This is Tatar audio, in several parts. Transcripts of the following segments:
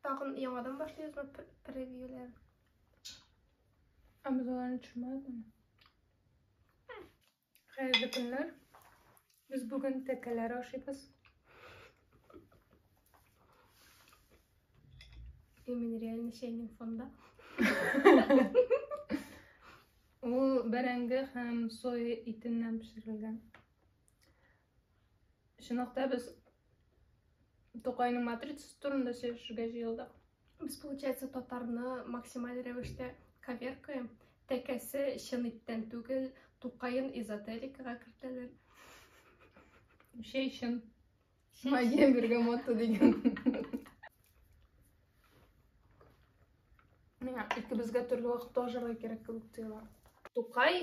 Тагын яңадан башлыйбызмы превьюлар? Ә без аларны төшермәдекме? Хәерле көннәр. Без бүген тәкәләр ашыйбыз. Именно реально чәйнең фонда. Ул бәрәңге һәм соя итеннән пешерелгән. Чынлап та без Тукайның матрицасы турында сөйләшергә җыелдык. Без, получается, татарны максималь рәвештә коверкаем. Тәкәсе чын иттән түгел, Тукайын эзотерикага кертәләр. Шәй чын. Магия бергамота дигән. Миңа икебезгә төрле вакытта ашарга кирәк кебек тоела. Тукай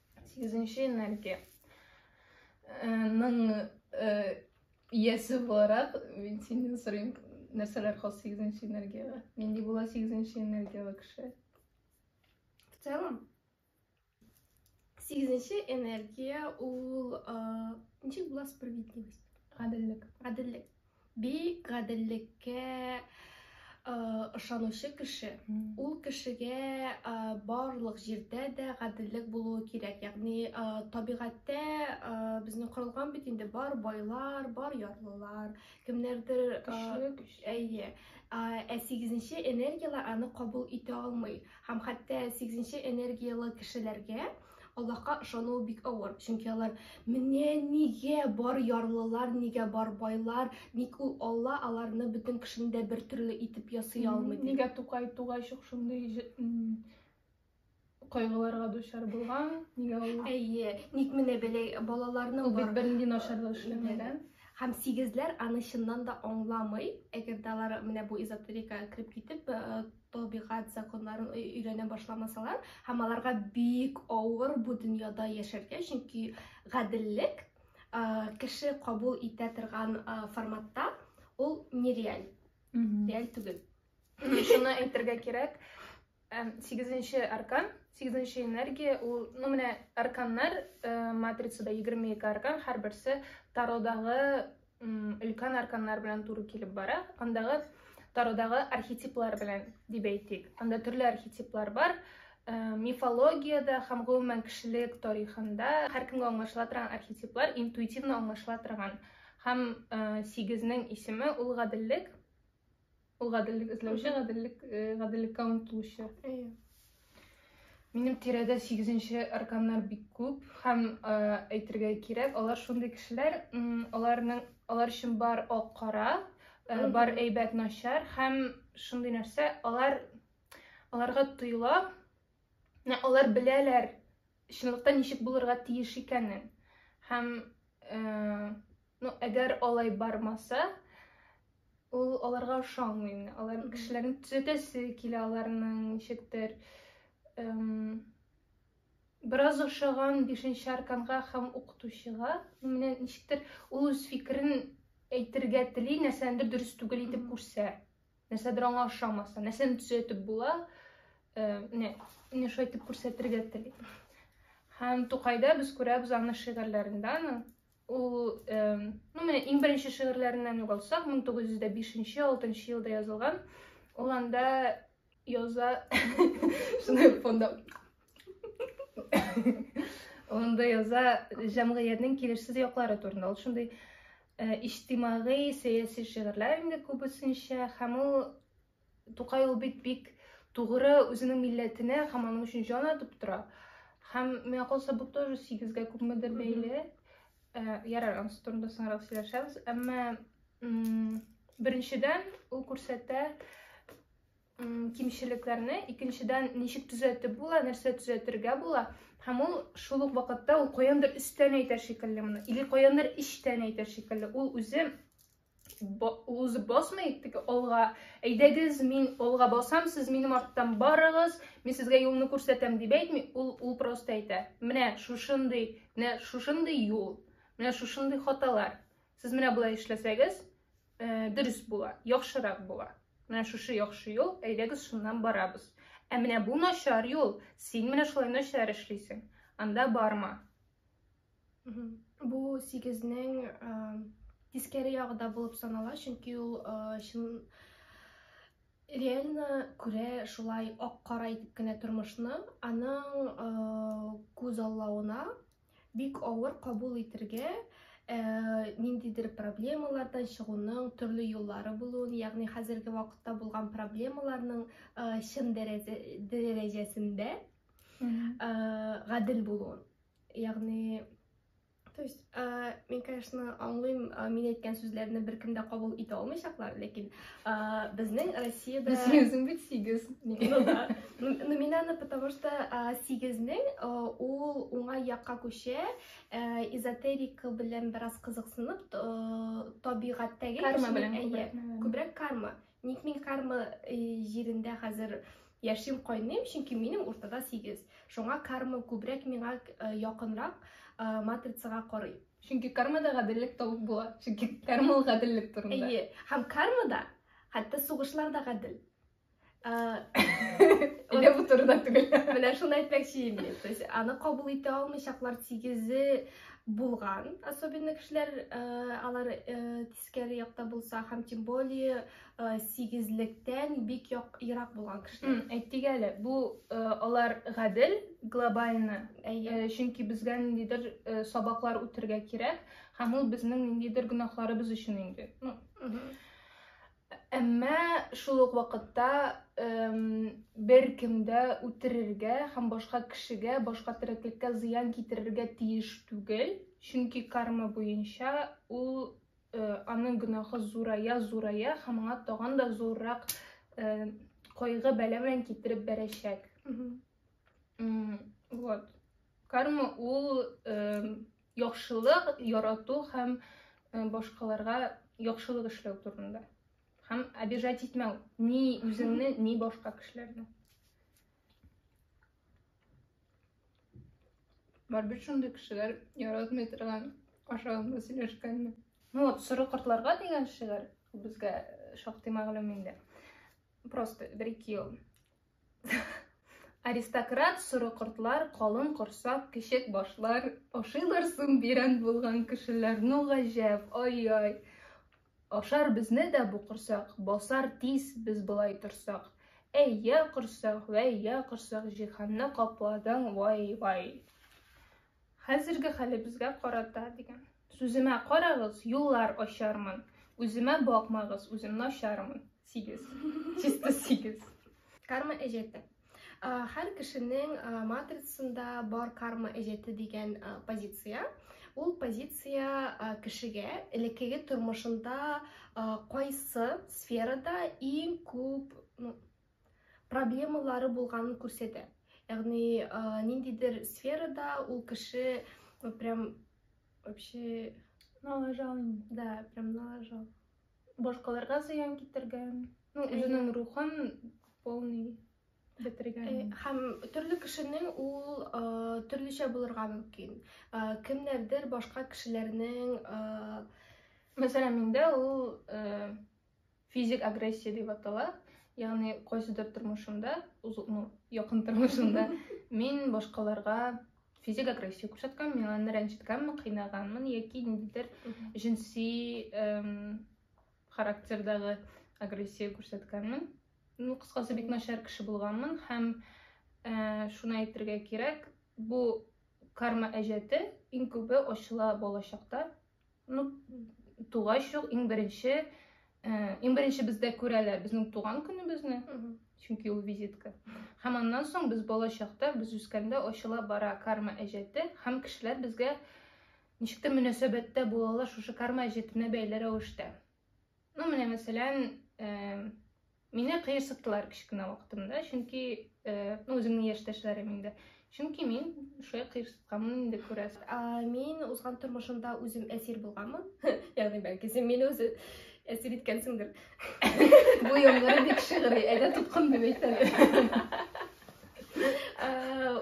Сигезенче энергия. Ның иясе буларак, мин синнән сорыйм, нәрсәләр хас сигезенче энергиягә? Нинди була сигезенче энергияле кеше? В целом, сигезенче энергия ул ничек була справедливость? Гаделлек. Гаделлек. Бик гаделлеккә ышанучы кеше ул кешегә барлык җирдә дә гаделлек булуы кирәк ягъни табигатьтә безнең корылган бит инде бар байлар бар ярлылар кемнәрдер әйе ә сигезенче энергиялар аны кабул итә алмый һәм хәтта сигезенче энергиялы кешеләргә Аллаһка ышануы бик авыр, чөнки алар менә нигә бар ярлылар, нигә бар байлар, ник ул Алла аларны бөтен кешене дә бер төрле итеп ясый алмый дип. Нигә Тукай тугайчык шундый кайгыларга дучар булган? Нигә ул? Әйе, ник менә бәләй балаларны Ул бит бернинди начарлык эшләмәгән. Һәм сигезләр аны чыннан да аңламый, әгәр дә алар менә бу эзотерикага кереп китеп, э, табигать законнарын өйрәнә башламасалар һәм аларга бик авыр бу дөньяда яшәргә, чөнки гаделлек кеше кабул итә торган форматта ул нереаль, реаль түгел. Шуны әйтергә кирәк, сигезенче аркан, сигезенче энергия, ул, ну, менә арканнар, матрицада 22 аркан, һәр берсе тародагы өлкән арканнар белән туры килеп бара. Андагы Тародагы архетиплар белән дип әйтик. Анда төрле архетиплар бар. Э, мифологиядә һәм гомумән кешелек тарихында һәркемгә аңлашыла торган архетиплар интуитивно аңлашыла торган. Һәм э, сигезнең исеме ул гаделлек. Ул гаделлек эзләүче, гаделлек, э, гаделлеккә омтылучы. Әйе. Минем тирәдә сигезенче арканнар бик күп һәм э, әйтергә кирәк, алар шундый кешеләр, м, аларның алар өчен бар ак кара, э, Мгм. бар әйбәт начар һәм шундый нәрсә, алар аларга тоела, Менә алар беләләр чынлыкта ничек булырга тиеш икәнен. Һәм э, ну, әгәр алай бармаса, ул аларга ошамый. Алар кешеләрне төзәтәсе килә, аларның ничектер эм, бераз ошаган бишенче арканга һәм укытучыга, менә ничектер ул үз фикерен әйтергә тели, нәрсәнедер дөрес түгел итеп күрсә. Нәрсәдер аңа ошамаса, нәрсәне төзәтеп була, менә менә шулай итеп күрсәтергә тели. Һәм Тукайда без күрәбез аны шигырьләрендә, ул ну менә иң беренче шигырьләреннән үк алсак, 1905-6 елда язылган. Ул анда яза шуны фонда Онда яза җәмгыятьнең килешсез яклары турында. Ул шундый э, иҗтимагый, сәяси шигырьләр инде күбесенчә һәм ул Тукай ул бит бик тугры үзенең милләтенә һәм аның өчен җан атып тора. Һәм миңа калса бу тоже сигезгә күпмедер бәйле. Э, ярар, анысы турында соңрак сөйләшәбез. Әмма беренчедән ул күрсәтә кимчелекләрне икенчедән ничек төзәтеп була нәрсә төзәтергә була һәм ул шул ук вакытта ул каяндыр өстән әйтә шикелле моны или каяндыр эчтән әйтә шикелле ул үзе ул үзе басмый теге алга әйдәгез мин алга басам сез минем арттан барыгыз мин сезгә юлны күрсәтәм дип әйтми ул ул просто әйтә менә шушындый менә шушындый юл менә шушындый хаталар Сез менә болай эшләсәгез, э, дөрес була, яхшырак була. Менә шушы яхшы юл, әйдәгез шуннан барабыз. Ә менә бу начар юл, син менә шулай начар эшлисең. Анда барма. Бу 8-нең э, тискәре ягы да булып санала, чөнки ул э, чын реально күрә шулай ак-кара итеп кенә тормышны, аның күз аллавына Бик авыр кабул итергә, э, ниндидер проблемалардан чыгуның төрле юллары булуын, ягъни хәзерге вакытта булган проблемаларның э, чын дәрәҗәсендә э, гадел булуын. Ягъни То есть, ә, мин, конечно, аңлыйм, ә, мин әйткән сүзләрне беркем дә кабул итә алмыйчаклар, ләкин А, безнең Россиядә... Без сигезен бит сигез. Ну да. Ну минаны, потому что а, сигезнең а, ул уңай якка күчә, э, эзотерика белән бераз кызыксынып, э, табигатьтәге карма белән күбрәк карма. Ник мин карма э, җирендә хәзер яшим кайныйм, чөнки минем уртада сигез. Шуңа карма күбрәк миңа якынрак матрицага карый. Чөнки кармада гаделлек тавык була. Чөнки карма ул гаделлек турында. Әйе. Һәм кармада хәтта сугышлар да гадел. Әле бу турыда түгел. Менә шуны әйтмәкче идем мин. То есть аны кабул итә алмыйчаклар тигезе булган, особенно кешеләр алар Скәри якта булса һәм тем более э, сигезлектән бик як, ерак булган кешеләр. Әйтик әле, бу э, алар гадел, глобальны. Әйе. Э, чөнки безгә ниндидер э, сабаклар үтергә кирәк, һәм ул безнең ниндидер гөнаһларыбыз өчен инде. Ну, Әмма шул ук вакытта бер кемдә үтерергә һәм башка кешегә, башка тереклеккә зыян китерергә тиеш түгел. Чөнки карма буенча ул аның гөнаһы зурая, зурая һәм аңа тагын да зуррак кайгы бәла белән китереп бәрәчәк. Вот. Карма ул яхшылык ярату һәм башкаларга яхшылык эшләү турында. Һәм обижать итмәү ни үзеңне, ни башка кешеләрне. Бар бит шундый кешеләр яратмый торган ашаганда сөйләшкәнне. Ну вот, соры кортларга дигән шигырь безгә шактый мәгълүм инде. Просто бер-ике ел. Аристократ соры кортлар, калын корсак, кечек башлар ашыйлар соң бирән булган кешеләр. Ну гаҗәп, ай-ай. Ашар безне дә бу корсак, Басар тиз без болай торсак. Әй, йә корсак, вәй, йә корсак, Җиһанны капладың, вай-вай. Хәзерге хәлебезгә карата дигән. Сүземә карагыз, юллар ачармын. Үземә бакмагыз, үзем начармын. Сигез. Чисто сигез. Карма әҗәте. Хәр кешенең матрицасында бар карма әҗәте дигән позиция. Ул позиция кешегә элеккеге тормышында кайсы сферада иң күп проблемалары булганын күрсәтә. Ягъни ниндидер сферада ул кеше прям вообще налажал. Да, прям налажал. Башкаларга зыян китергән, ну, үзенең рухын полный бетергән. Э, һәм төрле кешенең ул э, төрлечә булырга мөмкин. Э, кемнәрдер башка кешеләрнең мәсәлән, миндә ул физик агрессия дип атала. Ягъни кайсыдыр тормышымда, ну, якын тормышымда мин башкаларга физик агрессия күрсәткән мин аны рәнҗеткәнме кыйнаганмын яки ниндидер җенси характердагы агрессия күрсәткәнмен ну кыскасы бик начар кеше булганмын һәм ә, шуны әйтергә кирәк бу карма әҗәте иң күбе ачыла балачакта Ну, тугач ук иң беренче, э, иң беренче бездә күрәләр безнең туган көнебезне, чөнки ул визитка. Һәм аннан соң без бала чакта, без үскәндә ачыла бара карма әҗәте һәм кешеләр безгә ничектер мөнәсәбәттә булалар шушы карма әҗәтенә бәйле рәвештә. Ну, менә мәсәлән, мине кыерсыттылар кечкенә вакытымда, чөнки, ну, үземнең яшьтәшләрем инде. Чөнки мин шулай кыерсытканмын инде күрәсең. Мин узган тормышымда үзем әсир булганмын. Ягъни, бәлки, син мине үзе әсир иткәнсеңдер. Бу яңгыры бик шигъри, әйдә тоткын дип әйтәле.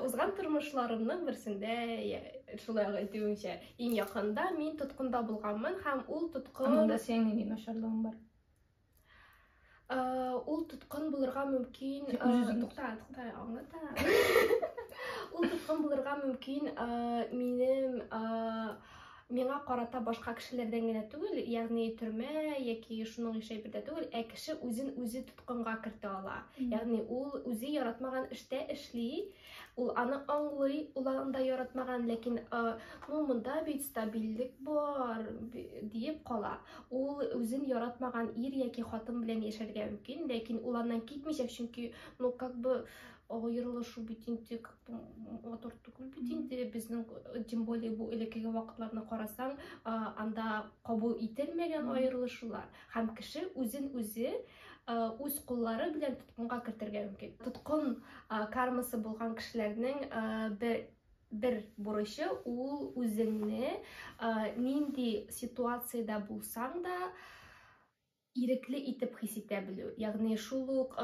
Узган тормышларымның берсендә, шулай әйтүемчә, Иң якында мин тоткында булганмын һәм ул тоткын... Ә монда синең нинди начарлыгың бар? Ә, ул тоткын булырга мөмкин... Ә, тукта, тукта, аңлата. Ул тоткын булырга мөмкин ә, минем... Ә, миңа карата башка кешеләрдән генә түгел, ягъни төрмә яки шуның яшәй бирдә түгел, ә кеше үзен үзе тоткынга кертә ала. Ягъни ул үзе яратмаган эштә эшли, Ул аны аңлый, ул анда яратмаган, ләкин ну монда бит стабильлек бар диеп кала. Ул үзен яратмаган ир яки хатын белән яшәргә мөмкин, ләкин ул аннан китмичәк, чөнки ну как бы аерылышу бит инде как бы матур түгел бит инде безнең тем более бу элеккеге вакытларны карасаң анда кабул ителмәгән аерылышулар һәм кеше үзен үзе үз куллары белән тоткынга кертергә мөмкин тоткын кармасы булган кешеләрнең бер бер бурычы ул үзеңне нинди ситуациядә булсаң да ирекле итеп хис итә белү ягъни шул ук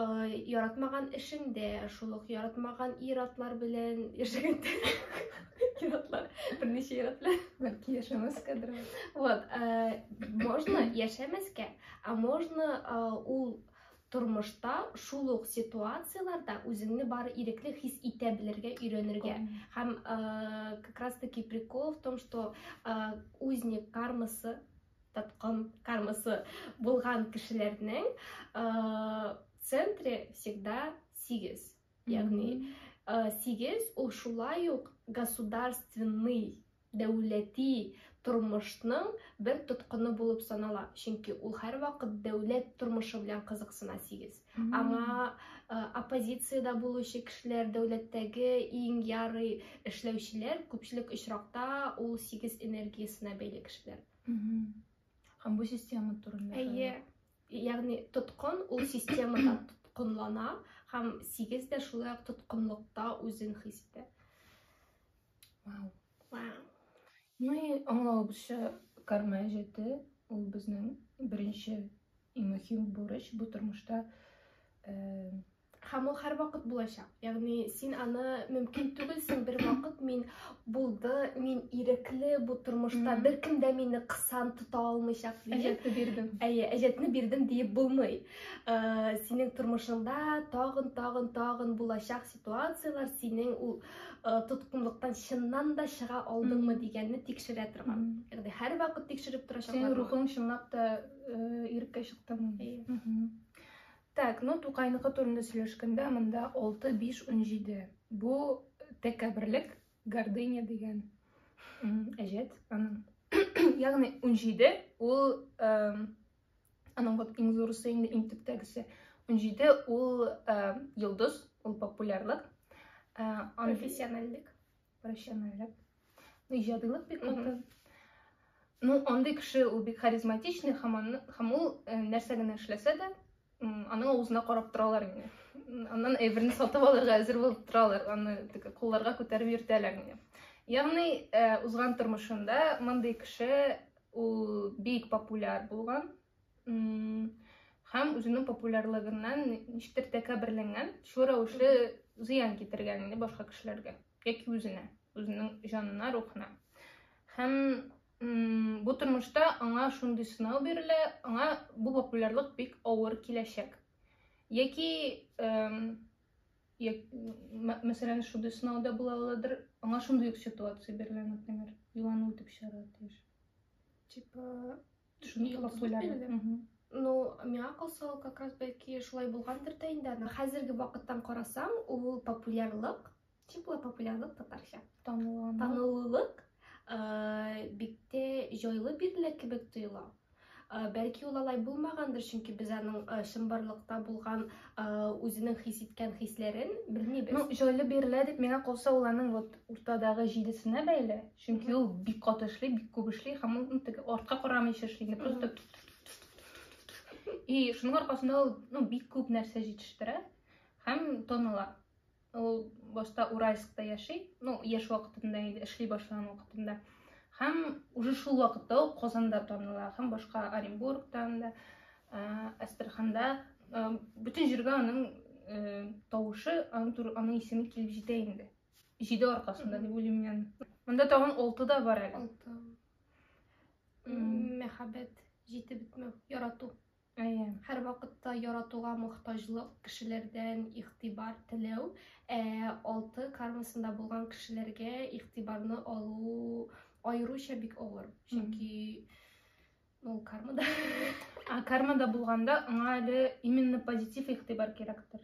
яратмаган эшеңдә шул ук яратмаган ир атлар белән яшәгәндә ир атлар берничә ир атлар бәлки яшәмәскә дөрес вот можно яшәмәскә Ә можно ул тормышта шул ук ситуацияләрдә үзеңне бар ирекле хис итә белергә өйрәнергә. Һәм как раз таки прикол в том, что узник кармасы, таткан кармасы булган кешеләрнең центре всегда сигез. Ягъни сигез ул шулай ук государственный дәүләти тормышның бер тоткыны булып санала. Чөнки ул һәрвакыт дәүләт тормышы белән кызыксына сигез. Аңа э, оппозициядә булучы кешеләр, дәүләттәге иң ярый эшләүчеләр күпчелек очракта ул сигез энергиясенә бәйле кешеләр. Һәм бу система турында. Әйе. Ягъни тоткын ул системада тоткынлана һәм сигез дә шулай ук тоткынлыкта үзен хис итә. Вау. Вау. Ну и аңлавыбызча карма әҗәте ул безнең беренче и мөһим бурыч бу тормышта э, һәм ул һәрвакыт булачак ягъни син аны мөмкин түгелсең бервакыт мин булды мин ирекле бу тормышта беркем дә мине кысан тота алмыйчак диеп әҗәтне бирдем әйе әҗәтне бирдем диеп булмый синең тормышыңда тагын тагын тагын булачак ситуацияләр синең ул э, тоткынлыктан чыннан да чыга алдыңмы дигәнне тикшерә торган ягъни һәрвакыт тикшереп торачаклар синең рухың чынлап та э, иреккә чыктымы так ну тукайныкы турында сөйләшкәндә монда алты биш унҗиде бу тәкәберлек гордыня дигән әҗәт аның ягъни унҗиде ул Аның вот иң зурысы инде иң төптәгесе. 17 ул ә, йолдыз, ул популярлык. Ә, ан... Профессиональлек. Профессиональлек. Ну, иҗадилык бик каты. Ну, андый кеше ул бик харизматичный һәм аны һәм ул ә, нәрсә генә эшләсә дә, аның авызына карап торалар инде. Аннан әйберне сатып алырга әзер булып торалар, аны тик кулларга күтәреп йөртәләр инде. Ягъни, ә, узган тормышында мондый кеше Ул бик популяр булган һәм үзенең популярлыгыннан ничектер тәкәберләнгән, шул рәвешле зыян китергән инде башка кешеләргә яки үзенә, үзенең җанына, рухына. Һәм бу тормышта аңа шундый сынау бирелә, аңа бу популярлык бик авыр киләчәк. Яки Як, мәсәлән, шундый сынауда була аладыр, аңа шундый ук ситуация бирелә, например, юану итеп чыгарга тиеш. Типа, шуны юлап куйлар. Ну, миңа калса ул как раз бәлки шулай булгандыр да инде. Хәзерге вакыттан карасаң, ул популярлык Чын була популярлык татарча. Танылулык. Танылулык биктә җайлы бирелә кебек тоела. Бәлки ул алай булмагандыр, чөнки без аның чынбарлыкта булган үзенең хис иткән хисләрен белмибез. Ну, җайлы бирелә дип миңа калса, ул аның вот уртадагы җидесенә бәйле, чөнки ул бик кат эшли, бик күп эшли һәм ул теге артка карамыйча эшли, просто и шуның аркасында ул ну бик күп нәрсә җитештерә һәм таныла. Ул башта Уральскта яши, ну, яшь вакытында инде, эшли башлаган вакытында. Һәм уже шул вакытта ук Казанда таныла, һәм башка Оренбургтан да, Астраханда, бөтен җиргә аның тавышы, аның исеме килеп җитә инде. Җиде аркасында дип уйлыйм мин. Монда тагын 6 да бар әле. 6. Мәхәббәт, җитеп бетмәү, ярату. Әйе, һәрвакытта яратуга мохтаҗлык, кешеләрдән игътибар теләү, ә алты кармасында булган кешеләргә игътибарны алу аеруча бик авыр. Чөнки ул кармада. Ә кармада булганда аңа әле именно позитив игътибар кирәктер.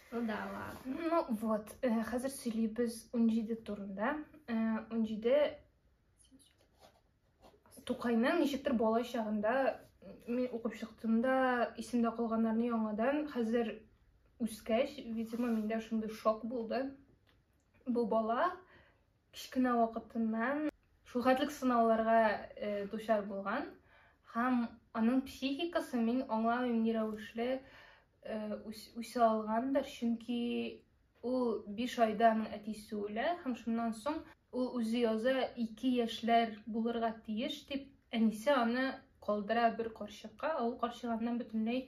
Ну да ладно. Ну вот, хәзер сөйлибез унҗиде турында. Унҗиде Тукайның ничектер бала чагында мин укып чыктым да, исемдә калганнарны яңадан хәзер үскәч, видимо, миндә шундый шок булды. Бу бала Кечкенә вакытыннан шулхәтлек сынауларга э, дучар булган һәм аның психикасы мин аңламыйм ни рәвешле э, үсә алгандыр, чөнки ул 5 айда аның әтисе үлә һәм шуннан соң ул үзе яза 2 яшьләр булырга тиеш дип әнисе аны калдыра бер карчыкка, ә ул карчык аннан бөтенләй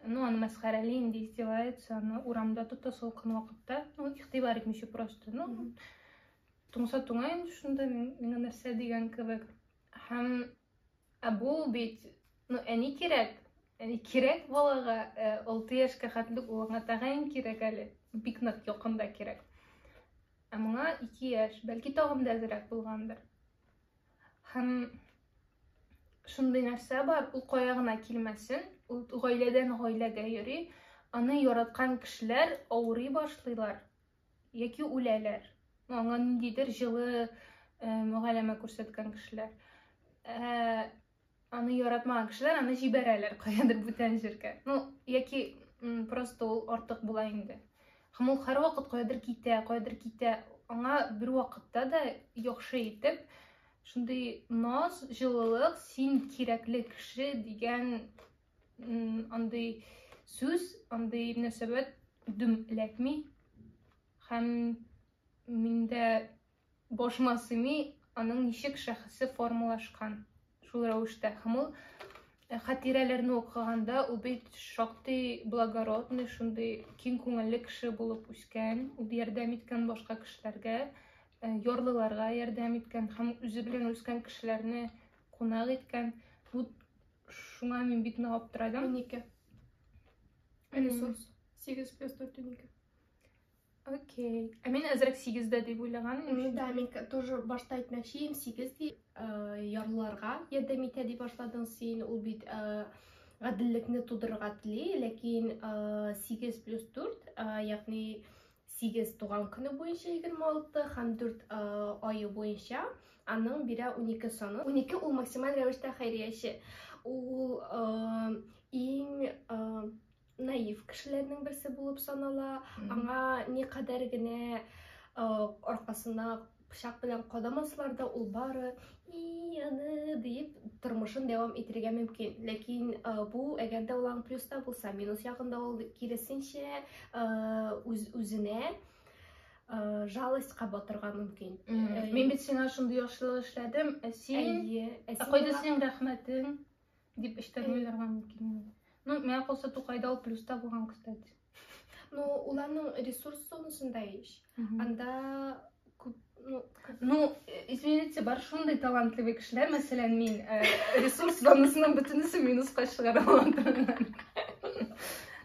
Ну, аны мәсхәрәли инде издевается, аны урамда тота салкын вакытта. Ну, игътибар итмичә просто. Ну, туңса туңа инде шунда миңа нәрсә дигән кебек. Һәм ә бу бит, ну, әни кирәк. Әни кирәк балага, 6 э, яшькә хәтлек улыңа тәгаен кирәк әле. Бик нык якында кирәк. Ә моңа 2 яшь, бәлки тагын да әзрәк булгандыр. Һәм шундый нәрсә бар, ул кая гына килмәсен, ул гаиләдән гаиләгә йөри, аны яраткан кешеләр авырый башлыйлар яки үләләр. Аңа ниндидер җылы э, мөгаләмә күрсәткән кешеләр. Э, Аны яратмаган кешеләр аны җибәрәләр каядыр бүтән җиргә. Ну, яки просто ул артык була инде. Һәм ул һәрвакыт каядыр китә, каядыр китә. Аңа бер вакытта да яхшы итеп шундый наз, җылылык, син кирәкле кеше дигән андый сүз, андый мөнәсәбәт дөм эләкми. Һәм миндә Башыма сыймый, аның ничек шәхесе формалашкан. Шул рәвештә һәм ул э, хатирәләрне укыганда ул бит шактый благородный, шундый киң күңелле кеше булып үскән, ул ярдәм иткән башка кешеләргә, э, ярлыларга ярдәм иткән һәм үзе белән үскән кешеләрне кунак иткән. Бу шуңа мин бик нык аптырадым. Унике. Ресурс. Сигез плюс дүрт унике. Окей. Ә мин әзрәк сигездә дип уйлаган идем. Да, мин тоже башта әйтмәкче идем, сигез дип э, ярлыларга ярдәм итә дип башладың син. Ул бит э, гаделлекне тудырырга тели, ләкин э, сигез плюс дүрт, ягъни сигез туган көне буенча егерме алты һәм дүрт айы буенча аның бирә унике саны. Унике ул максималь рәвештә хәйрияче. Ул иң наив кешеләрнең берсе булып санала аңа никадәр генә э, аркасына пычак белән кадамаслар да ул бары и аны диеп тормышын дәвам итәргә мөмкин ләкин э, бу әгәр дә ул плюста булса минус ягында ул киресенчә э, үз үзенә жалостька батырга мөмкин мин бит сиңа шундый яхшылык эшләдем ә син әйе ә кайда синең рәхмәтең Дип эчтәрләр һәм килми. Ну, миңа калса Тукайда ул плюста булган, кстати. Ну, уларның ресурс зонасында еш. Анда ну, ну, извините, бар шундый талантлы кешеләр, мәсәлән, мин э, ресурс зонасының бөтенесе минуска чыгара алам.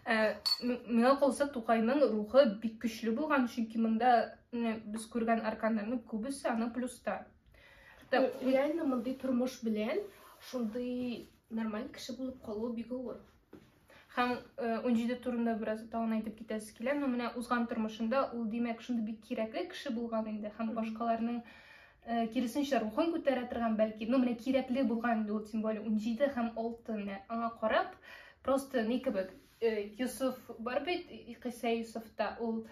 Э, миңа калса Тукайның рухы бик көчле булган, чөнки монда без күргән арканнарның күбесе аны плюста. Реально мондый тормыш белән шундый нормаль кеше булып калу бик авыр. Һәм 17 э, турында бераз тагын әйтеп китәсе килә, но менә узган тормышында ул димәк шундый бик кирәкле кеше булган инде һәм башкаларның э, киресенчә рухын күтәрә торган бәлки, но менә кирәкле булган инде ул тем более 17 һәм 6 менә аңа карап просто ни кебек э, Юсуф бар бит Кыйса Юсуфта ул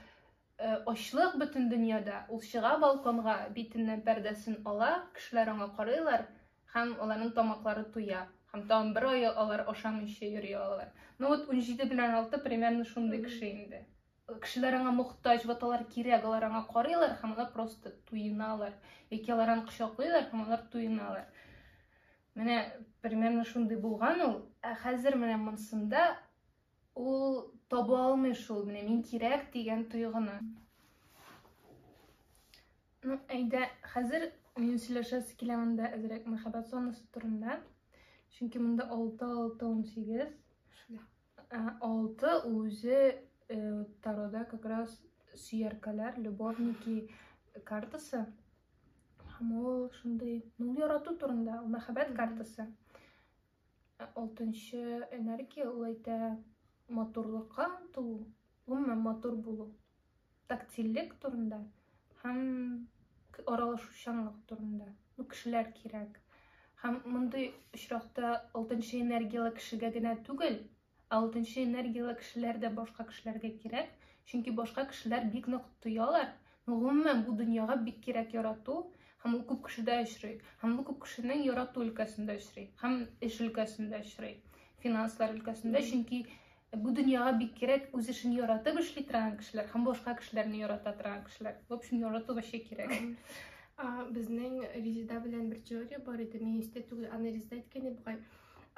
Э, ачлык бөтен дөньяда. Ул чыга балконга, битеннән пәрдәсен ала, кешеләр аңа карыйлар һәм аларның тамаклары туя. Һәм тагын бер ай алар ашамыйча йөри алалар. Ну вот 17 белән 6 примерно шундый кеше инде. Кешеләр аңа мохтаҗ, вот алар кирәк, алар аңа карыйлар һәм алар просто туеналар. Яки алар аны кочаклыйлар һәм алар туеналар. Менә примерно шундый булган ул. Ә хәзер менә монсында Ул таба алмый шул, менә мин кирәк дигән тойгыны. Ну, әйдә, хәзер мин сөйләшәсе килә монда әзрәк мәхәббәт зонасы турында. Чөнки монда 6 6 18. Шулай. 6 үзе э, тарода как раз сөяркәләр, любовники картасы. Һәм ул шундый, ну, ярату турында, мәхәббәт картасы. Ә алтынчы энергия ул әйтә матурлыкка омтылу, гомумән матур булу, тактильлек турында һәм аралашучанлык турында. Ну, кешеләр кирәк. Һәм мондый очракта алтынчы энергияле кешегә генә түгел, Ә алтынчы энергияле кешеләр дә башка кешеләргә кирәк, чөнки башка кешеләр бик нык тоялар. Ну, гомумән, бу дөньяга бик кирәк ярату, һәм ул күп кешедә очрый. Һәм бу күп кешенең ярату өлкәсендә очрый, һәм эш өлкәсендә очрый, финанслар өлкәсендә, чөнки бу дөньяга бик кирәк үз эшен яратып эшли торган кешеләр һәм башка кешеләрне ярата торган кешеләр. В общем, ярату вообще кирәк. Безнең Резеда белән бер теория бар иде, министр түгел, аны Резеда әйткән иде бугай.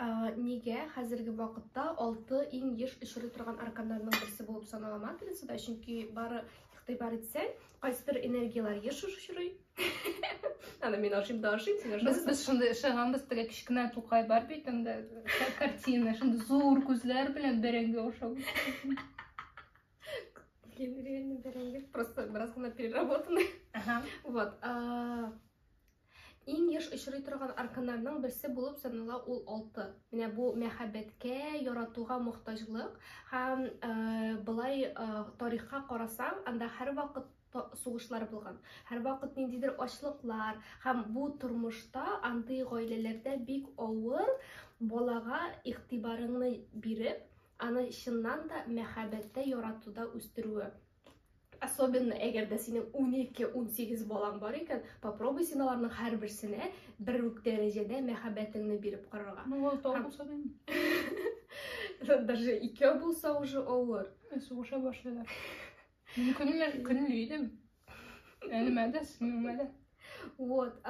Нигә хәзерге вакытта алты иң еш очрый торган арканнарның берсе булып санала матрицада? Чөнки бары игътибар итсәң, кайсыдыр энергияләр еш очрый. Аны мин ашыйм да ашыйм, син ашыйсың. Без шундый ышанганбыз, теге кечкенә тукай бар бит анда, картина, шундый зур күзләр белән бәрәңге ашау. Реально бәрәңге, просто бераз гына переработанный. Вот. Иң еш очрый торган арканнарның берсе булып санала ул алты. Менә бу мәхәббәткә, яратуга мохтаҗлык һәм э, былай э, тарихка карасаң, анда һәрвакыт сугышлар булган. Һәрвакыт ниндидер ачлыклар һәм бу тормышта андый гаиләләрдә бик авыр балага игътибарыңны биреп, аны чыннан да мәхәббәттә, яратуда үстерүе. Особенно әгәр дә синең 12-18 балаң бар икән, попробуй син аларның һәрберсенә бер үк дәрәҗәдә мәхәббәтеңне биреп карарга. Ну, ул тау булса да инде. Даже икәү булса уже авыр. Сугыша башлыйлар. Мин көнле, көнле идем. Әнемә дә, сеңлемә дә. Вот,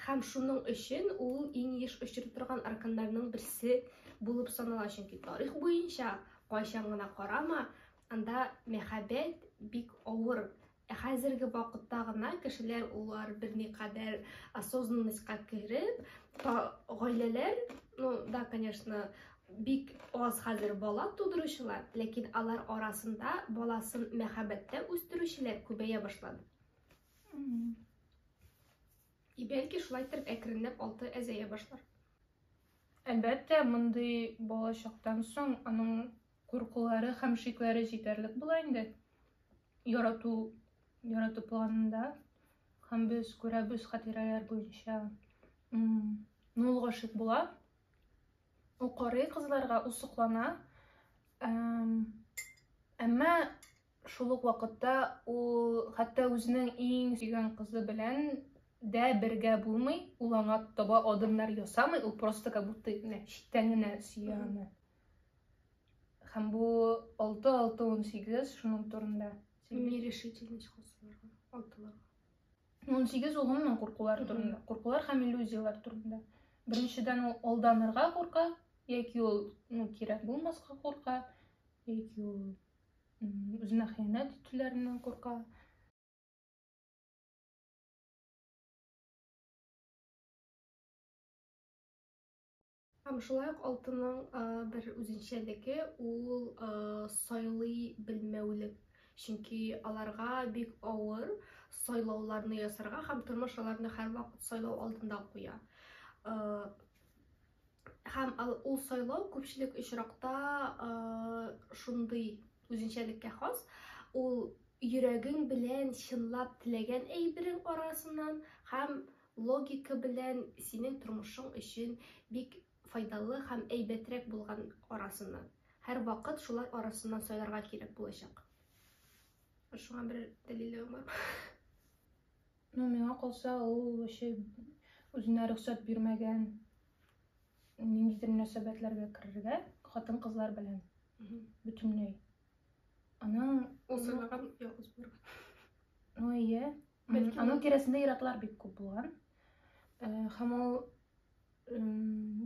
һәм шуның өчен ул иң еш очрый торган арканнарның берсе булып санала, чөнки тарих буенча кайчан гына карама, Анда мәхәббәт бик авыр. Ә хәзерге вакытта гына кешеләр улар берникадәр осознанностька кереп, гаиләләр, ну да, конечно, бик аз хәзер бала тудыручылар, ләкин алар арасында баласын мәхәббәттә үстерүчеләр күбәя башлады. И бәлки шулай итеп әкренләп алты әзәя башлар. Әлбәттә, мондый балачактан соң аның Куркулары һәм шикләре җитәрлек була инде ярату, ярату планында. Һәм без күрәбез хатирәләр буенча. Ну, ул гашыйк була. Ул карый кызларга, ул соклана. Әмма шул ук вакытта ул хәтта үзенең иң сөйгән кызы белән дә бергә булмый, ул аңа таба адымнар ясамый, ул просто как будто читтән генә сөя аны. Һәм бу 6-6-18 шуның турында. Нерешительность косыларга, алтыларга. 18 ул гомумән куркулар турында. Куркулар һәм иллюзияләр турында. Беренчедән ул алданырга курка, яки ул ну, кирәк булмаска курка, яки ул үзенә хыянәт итүләреннән курка. Һәм шулай ук алтынның бер үзенчәлеге ул сайлый белмәүлек. Чөнки аларга бик авыр сайлауларны ясарга һәм тормыш аларны һәрвакыт сайлау алдында куя. Һәм ул сайлау күпчелек очракта шундый үзенчәлеккә хас, ул йөрәгең белән чынлап теләгән әйберең арасыннан һәм Логика белән синең тормышың өчен бик файдалы һәм әйбәтрәк булган арасыннан. Һәрвакыт шулар арасыннан сайларга кирәк булачак. Шуңа бер дәлиллегең бармы? Ну, миңа калса, ул вообще үзенә рөхсәт бирмәгән ниндидер мөнәсәбәтләргә керергә, хатын-кызлар белән бөтенләй. Аның Ул сайлаган ялгыз булырга. Ну, әйе, Бәлки аның тирәсендә иратлар бик күп булган. Һәм ул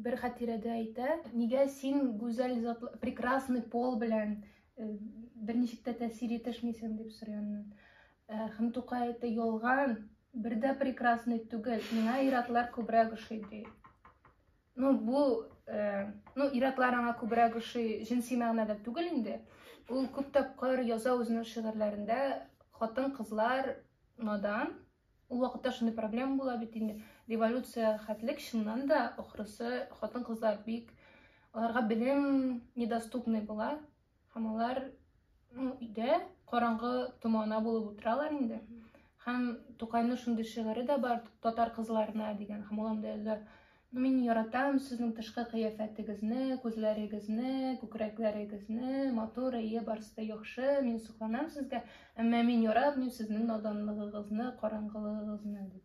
бер хатирәдә әйтә, нигә син гүзәл затлы, прекрасный пол белән бер ничек тә тәэсир итешмисең дип сорый аннан. Һәм Тукай әйтә, ялган, бер дә прекрасный түгел, миңа иратлар күбрәк ошый ди. Ну, бу, э, ну, иратлар аңа күбрәк ошый җенси мәгънәдә түгел инде. Ул күп тапкыр яза үзенең шигырьләрендә хатын кызлар надан, ул вакытта шундый проблема була бит инде. Революция хәтлек чыннан да ахрысы хатын кызлар бик аларга белем недоступный була. Һәм алар ну, өйдә караңгы томана булып утыралар инде. Һәм Тукайның шундый шигыре дә бар, татар кызларына дигән. Һәм ул анда яза, ну, мин яратам сезнең тышкы кыяфәтегезне, күзләрегезне, күкрәкләрегезне, матур, әйе, барысы да яхшы, мин сокланам сезгә, әмма мин яратмыйм сезнең наданлыгыгызны, караңгылыгыгызны, дип.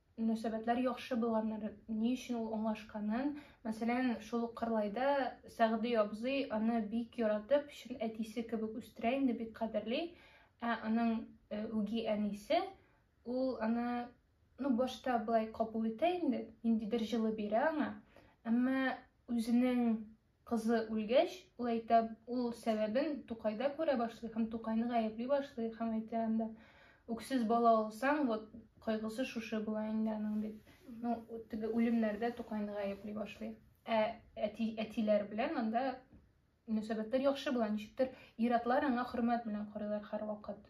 мөнәсәбәтләр яхшы булганнар, ни өчен ул аңлашканын, мәсәлән, шул ук Кырлайда Сәгъди абзый аны бик яратып, чын әтисе кебек үстерә инде, бик кадерли, ә аның э, үги әнисе, ул аны ну, башта былай кабул итә инде, ниндидер җылы бирә аңа, әмма үзенең Кызы үлгәч, ул әйтә, ул сәбәбен Тукайда күрә башлый һәм Тукайны гаепли башлый һәм әйтә анда, үксез бала алсаң, вот кайгысы шушы була инде аның дип. Ну, теге үлемнәрдә Тукайны гаепли башлый. Ә әти, әтиләр белән анда мөнәсәбәтләр яхшы була, ничектер ир-атлар аңа хөрмәт белән карыйлар һәрвакыт.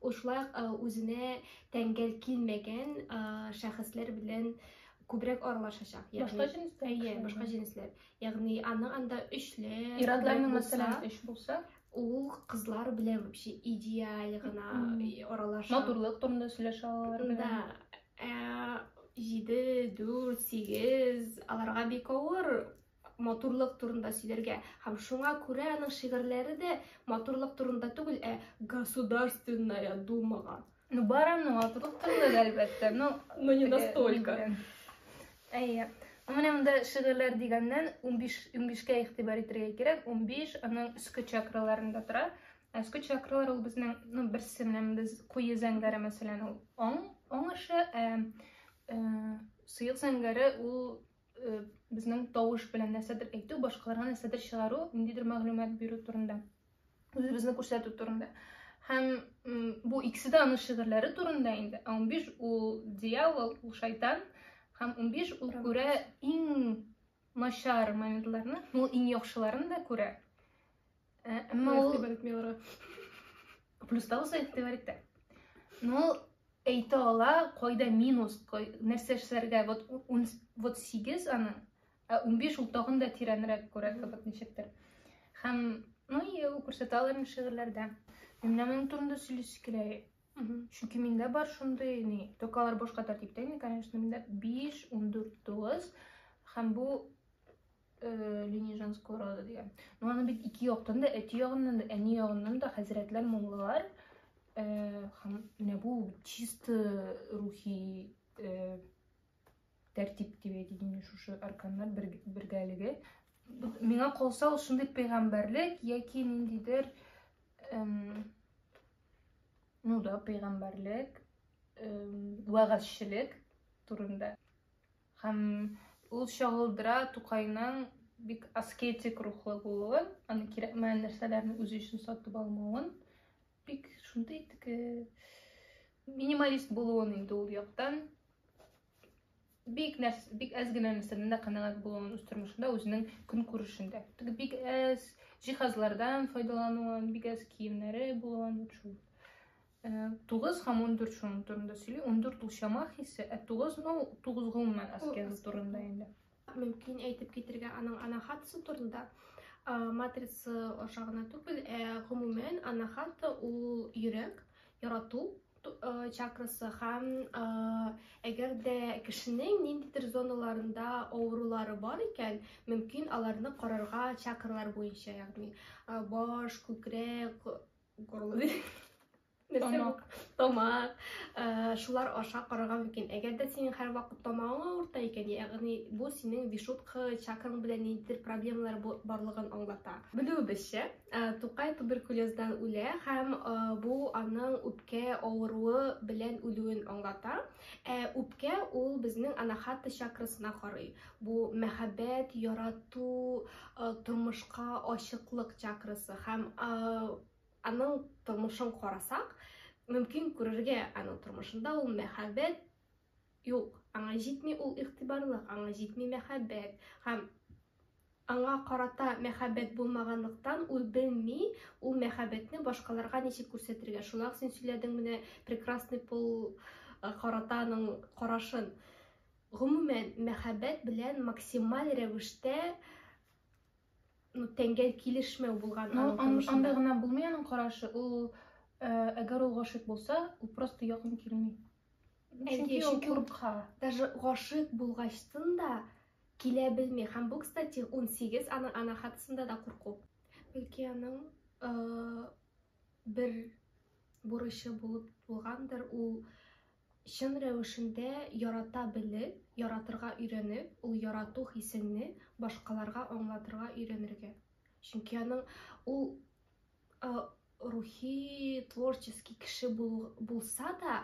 Шулай ук үзенә тәңгәл килмәгән шәхесләр белән күбрәк аралашачак. Башка җенесләр? Әйе, башка җенесләр. Ягъни аның анда өчле. Ирадларның мәсәлән өч булса, ул кызлар белән вообще идеаль гына аралаша. Матурлык турында сөйләшә алар. Да. Ә, җиде, дүрт, сигез, аларга бик авыр матурлык турында сөйләргә. Һәм шуңа күрә аның шигырьләре дә матурлык турында түгел, ә Государственная думага. Ну, бар аның матурлык турында да, әлбәттә. Ну, ну не настолько. Әйе. Менә монда шигырьләр дигәннән 15 15-кә игътибар итәргә кирәк. 15 аның өске чакраларында тора. Ә өске чакралар ул безнең, ну, берсе менә без куе зәңгәре мәсәлән, ул оң, оң эше, ә, ә сыек зәңгәре ул э, безнең тавыш белән нәрсәдер әйтү, башкаларга нәрсәдер чыгару, ниндидер мәгълүмат бирү турында, үзебезне күрсәтү турында. Һәм бу икесе дә аның шигырьләре турында инде. Ә 15 ул дьявол, ул шайтан, һәм 15 ул күрә иң начар моментларны, ул иң яхшыларын да күрә. Ә, әмма ул... Игътибар итми аларга. Плюс та булса игътибар итә. Ну, әйтә ала, кайда минус, кай, нәрсә эшләргә, вот, ун, вот 8 аны, ә 15 ул тагын да тирәнрәк күрә кебек ничектер. Һәм, ну, и ул күрсәтә аларны шигырьләрдә. Менә моның турында сөйләсе килә. Чөнки миндә бар шундый, ни, токалар башка тәртиптә, ни, конечно, миндә 5, 14, 9 һәм бу линия женского рода дигән ну аны бит ике яктан да әти ягыннан да әни ягыннан да хәзрәтләр муллалар һәм менә бу чисто рухи тәртип дип әйтелгән шушы арканнар бергәлеге миңа калса ул шундый пәйгамбәрлек яки ниндидер ну да пәйгамбәрлек вәгазьчелек турында Һәм ул чагылдыра Тукайның бик аскетик рухлы булуын, аны кирәкмәгән нәрсәләрне үзе өчен сатып алмавын, бик шундый теге минималист булуын инде ул яктан бик нәрс бик әз генә нәрсәдән дә канәгать булуын үз тормышында үзенең көнкүрешендә теге бик әз җиһазлардан файдалануын бик әз киемнәре булуын шул 9 һәм 14 шуның турында сөйли. 14 ул чама хисе, ә 9 ну 9 гомумән аскеза турында инде. Мөмкин әйтеп китергә аның анахатасы турында матрица аша гына түгел, ә гомумән анахата ул йөрәк, ярату чакрасы һәм әгәр дә кешенең ниндидер зоналарында авырулары бар икән, мөмкин аларны карарга чакралар буенча, ягъни баш, күкрәк, горлы тамак тамак э, шулар аша карарга мөмкин әгәр дә синең һәрвакыт тамагың авырта икән ягъни бу синең вишутка чакраң белән ниндидер проблемалар барлыгын аңлата белүебезчә э, тукай туберкулездан үлә һәм э, бу аның үпкә авыруы белән үлүен аңлата ә үпкә ул безнең анахата чакрасына карый Бу мәхәббәт, ярату, тормышка ачыклык чакрасы һәм аның тормышын карасак, мөмкин күрергә аның тормышында ул мәхәббәт юк. Аңа җитми ул игътибарлык, аңа җитми мәхәббәт һәм аңа карата мәхәббәт булмаганлыктан ул белми ул мәхәббәтне башкаларга ничек күрсәтергә шуңа син сөйләдең менә прекрасный пол э, карата аның карашын Гомумән, мәхәббәт белән максималь рәвештә тәңгәл килешмәү булган аның тормышында. Анда гына булмый аның карашы, ул э, әгәр ул гашыйк булса, ул просто якын килми. Чөнки ул курка. Даже гашыйк булгачтын да килә белми. Һәм бу, кстати, 18 аның ана хатасында да курку. Бәлки аның э, бер бурычы булып булгандыр, ул Чын рәвешендә ярата белеп, яратырга өйрәнеп, ул ярату хисеңне башкаларга аңлатырга өйрәнергә. Чөнки аның ул рухи, творческий кеше булса да,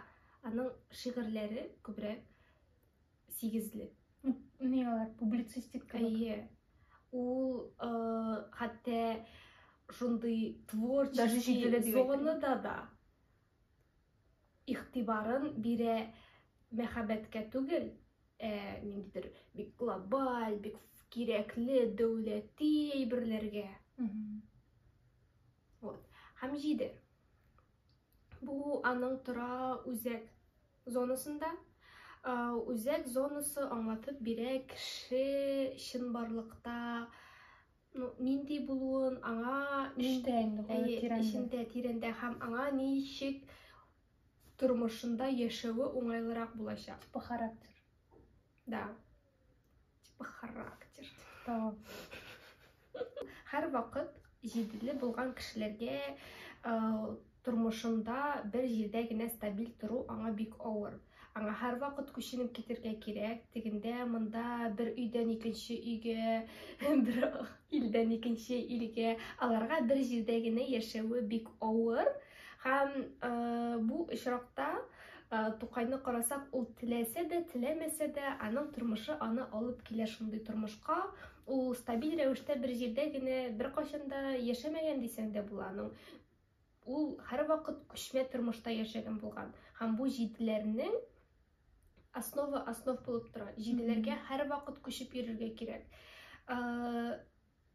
аның шигырьләре күбрәк сигезле. Ни алар публицистик кебек. Әйе. Ул хәтта шундый творческий зонада да игътибарын бирә мәхәббәткә түгел, ә ниндидер бик глобаль, бик кирәкле дәүләти әйберләргә. Вот. Һәм җиде. Бу аның тора үзәк зонасында. Үзәк зонасы аңлатып бирә кеше чынбарлыкта ну нинди булуын аңа эчтә инде тирәндә эчендә тирәндә һәм аңа ничек тормышында яшәве уңайлырак булачак типа характер да типа характер да һәр вакыт җиделе булган кешеләргә Тормышында бер җирдә генә стабиль тору аңа бик авыр. Аңа һәрвакыт күченеп китергә кирәк, тегендә, монда, бер өйдән икенче өйгә, бер илдән икенче илгә. Аларга бер җирдә генә яшәве бик авыр. Һәм бу очракта Тукайны карасак, ул теләсә дә, теләмәсә дә, аның тормышы аны алып килә шундый тормышка. Ул стабиль рәвештә бер җирдә генә беркайчан да яшәмәгән дисәң дә була. Аның Ул һәрвакыт күчмә тормышта яшәгән булган. Һәм бу җиделәрнең основа основ булып тора. Җиделәргә һәрвакыт күчеп йөрергә кирәк.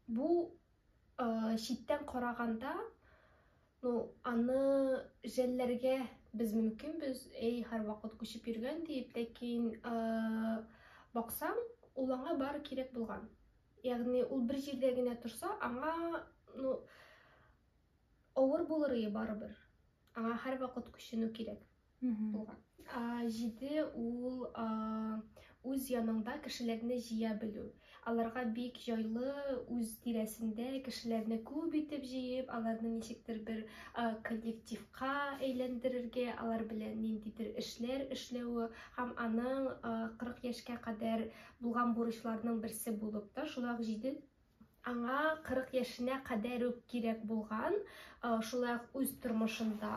Бу читтән караганда, ну, аны жәлләргә без мөмкинбез, әй, һәрвакыт күчеп йөргән диеп, ләкин баксаң, ул аңа бары кирәк булган. Ягъни ул бер җирдә генә торса, аңа, ну, Авыр булырые барыбер. Аңа һәрвакыт күченү кирәк булган. Җиде ул үз яныңда кешеләрне җыя белү. Аларга бик җайлы үз тирәсендә кешеләрне күп итеп җыеп, аларны ничектер бер коллективка әйләндерергә, алар белән ниндидер эшләр эшләве һәм аның 40 яшькә кадәр булган бурычларының берсе булып та, шулай ук җиде Аңа 40 яшенә кадәр үк кирәк булган, шулай ук үз тормышында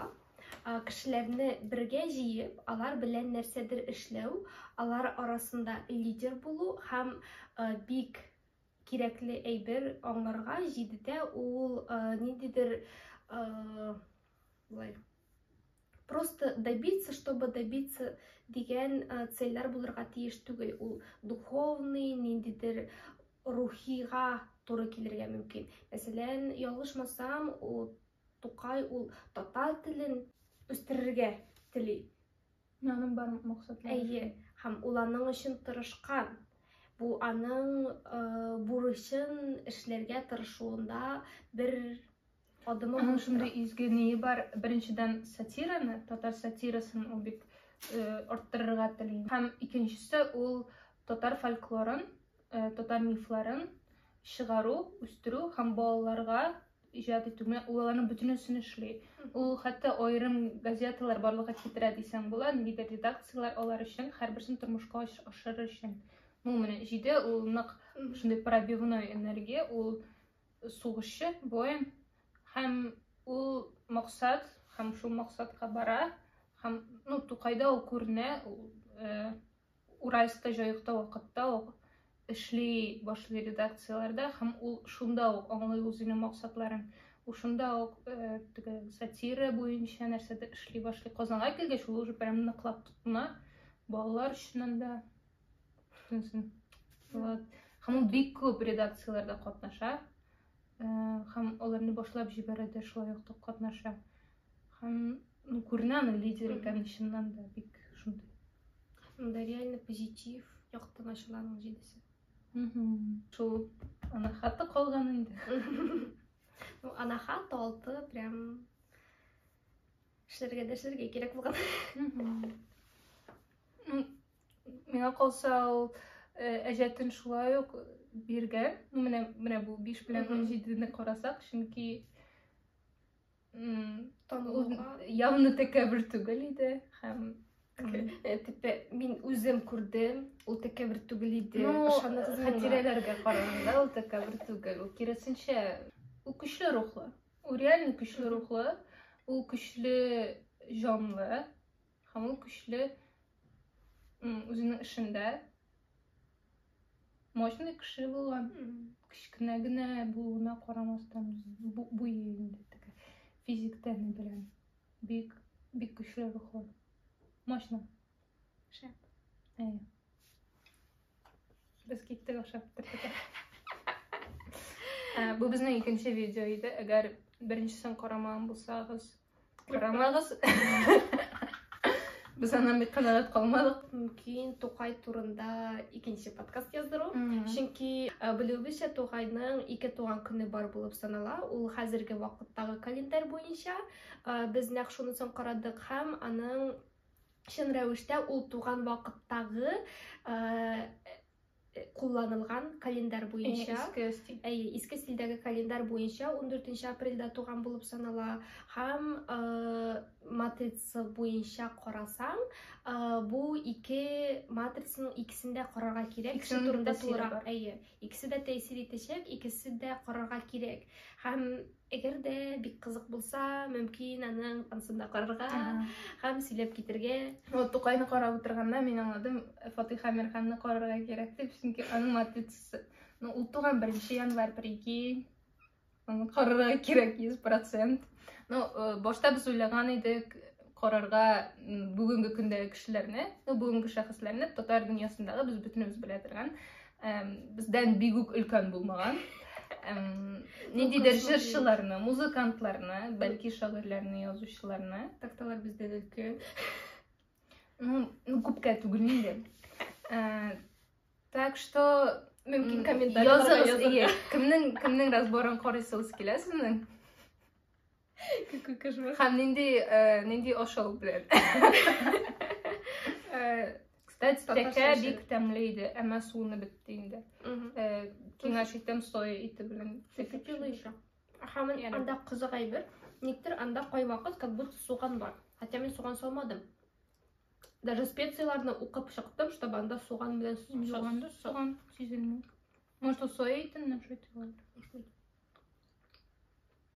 кешеләрне бергә җыеп, алар белән нәрсәдер эшләү, алар арасында лидер булу һәм бик кирәкле әйбер аңларга җидедә ул ниндидер просто добиться чтобы добиться дигән э, цельләр булырга тиеш түгел ул духовный ниндидер рухига туры килергә мөмкин мәсәлән ялгышмасам ул тукай ул татар телен үстерергә тели аның барлык максатлары әйе һәм ул аның өчен тырышкан бу аның э, бурычын эшләргә тырышуында бер Адымовның шундый изге ние бар, беренчедән сатираны, татар сатирасын ул бит арттырырга тели. Һәм икенчесе ул татар фольклорын, татар мифларын чыгару, үстерү һәм балаларга иҗат итүне, ул аларның бөтенесен эшли. Ул хәтта аерым газеталар барлыкка китерә дисәң була, ниндидер редакцияләр алар өчен, һәрберсен тормышка ашырыр өчен. Ну, менә җиде, ул нык шундый пробивной энергия, ул Сугышчы воин һәм ул максат һәм шул максатка бара һәм ну тукайда ул күренә э, уральскта җаекта вакытта ук эшли башлый редакцияләрдә һәм ул шунда ук аңлый үзенең максатларын ул шунда ук э, теге сатира буенча нәрсәдер эшли башлый казанга килгәч ул уже прям ныклап тотына балалар өчен анда Күрсенсен. Вот. Һәм ул бик күп редакцияләрдә катнаша. Һәм э, аларны башлап җибәрәдә шулай ук катнаша. Һәм ну, күренә аны лидер икән чыннан да бик шундый. Анда реально позитив яктан ачыла аның җидесе. Шул анахата калган инде. Ну, анахат алты прям эшләргә дә эшләргә кирәк булган. Миңа калса ул э, әҗәтен шулай ук биргән. Ну менә менә бу 5 белән 17-не карасак, чөнки явно тәкәбер түгел иде һәм э, типа мин үзем күрдем ул тәкәбер түгел иде хатирәләргә караганда ул тәкәбер түгел ул киресенчә ул көчле рухлы ул реально көчле рухлы ул көчле җанлы Һәм ул көчле үзенең эшендә мощный кеше булган кечкенә генә булуына карамастан буе инде теге физик тәне белән бик бик көчле рухлы мощно шәп әйе Без киттек, охшап бетердек. Ә, Бу безнең икенче видео иде. Әгәр беренчесен карамаган булсагыз, карамагыз. Без аннан бик канәгать калмадык. Мөмкин Тукай турында икенче подкаст яздыру. Чөнки ә, белүебезчә Тугайның ике туган көне бар булып санала. Ул хәзерге вакыттагы календарь буенча. Ә, Без нәкъ шунысын карадык һәм аның чын рәвештә ул туган вакыттагы кулланылган календарь буенча иске стиль әйе иске стильдәге календарь буенча 14 апрельдә туган булып санала һәм матрица буенча карасаң бу ике матрицаның икесен дә карарга кирәк кеше турында тулырак әйе икесе дә тәэсир итәчәк икесе дә карарга кирәк һәм Әгәр дә бик кызык булса, мөмкин аның ансында карарга һәм сөйләп китергә. Вот Тукайны карап утырганда мин аңладым, Фатих Амирханны карарга кирәк дип, чөнки аның матрица. Ну, ул туган 1 январь, прикинь. Аны карарга кирәк 100%. Ну, э, башта без уйлаган идек карарга бүгенге көндәге кешеләрне, ну, бүгенге шәхесләрне татар дөньясындагы без бөтенебез белә торган бездән бигүк өлкән булмаган ниндидер җырчыларны музыкантларны бәлки шагыйрьләрне язучыларны такталар бездә өлке ну күпкә түгел инде э, так что мөмкин комментарийларда языгыз кемнең кемнең разборын карыйсыгыз килә сезнең Какой кошмар. Һәм нинди, э, нинди ашау белән. Э, Кстати, Татарча тәкә эчәрек. бик тәмле иде, әмма суыны бетте инде. Мгм. Э, Киңәш итәм соя ите белән. Сөте тиле ещё. Һәм Ярый. анда кызык әйбер, никтер анда кайвакыт как будто суган бар. Хотя мин суган салмадым. Даже специяләрне укып чыктым, чтобы анда суган белән су- Суган да су- суган сизелми. Может, ул соя итеннән шайтып алды?